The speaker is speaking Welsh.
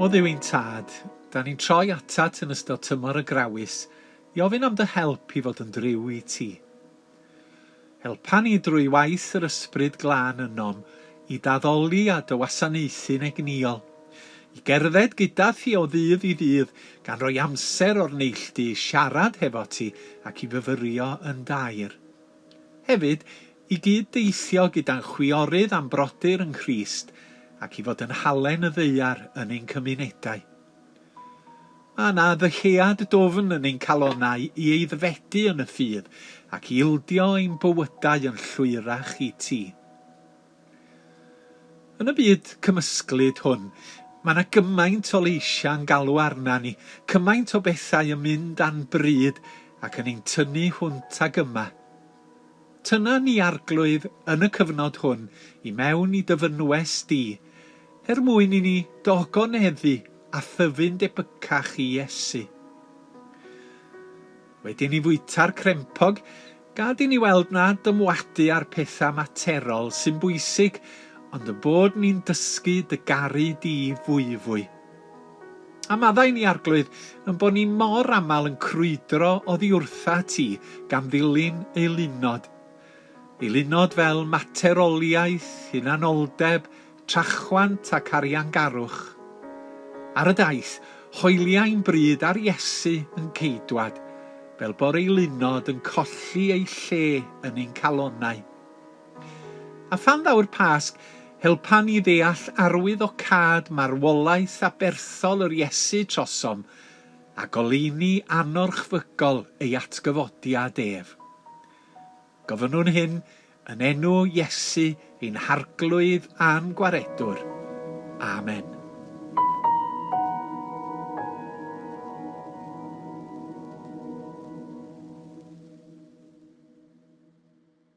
O Dduw i'n Tad, da ni'n troi atat yn ystod tymor y grawys i ofyn am dy help i fod yn driw i ti. Helpa ni drwy waith yr Ysbryd Glân ynom i daddoli a dywasanaethu'n egnïol, i gerdded gyda thi o ddydd i ddydd, gan roi amser o'r neilltu i siarad hefo ti ac i fyfyrio yn daer. Hefyd, i gyd-deithio gyda'n chwiorydd a'n brodyr yng Nghrist ac i fod yn halen y ddaear yn ein cymunedau. Mae yna ddyhead dwfn yn ein calonnau i eiddfedu yn y ffydd ac i ildio ein bywydau yn llwyrach i ti. Yn y byd cymysglyd hwn, mae 'na gymaint o leisiau yn galw arna ni, cymaint o bethau yn mynd a'n bryd ac yn ein tynnu hwnt ag yma. Tyna ni Arglwydd yn y cyfnod hwn i mewn i dy fynwes di, er mwyn i ni dy ogoneddu a thyfu'n debycach i Iesu. Wedi ni fwyta'r crempog, gad i ni weld na dymwadu ar pethau materol sy'n bwysig, ond y bod ni'n dysgu dy garu di fwyfwy. A maddau ni, Arglwydd, yn bod ni mor aml yn crwydro oddi wrtha ti gan ddilyn eilunod. Eilunod fel materoliaeth, hunanoldeb, Trachwant ac ariangarwch. Ar y daith, hoeliai'n bryd ar Iesu yn Ceidwad, fel bo'r eilunod yn colli ei lle yn ein calonnau. A phan ddaw'r Pasg, helpa ni ddeall arwyddocâd marwolaeth aberthol yr Iesu trosom, a goleuni anorchfygol ei atgyfodiad ef. Gofynnwn hyn yn enw Iesu, ein Harglwydd a'n Gwaredwr. Amen.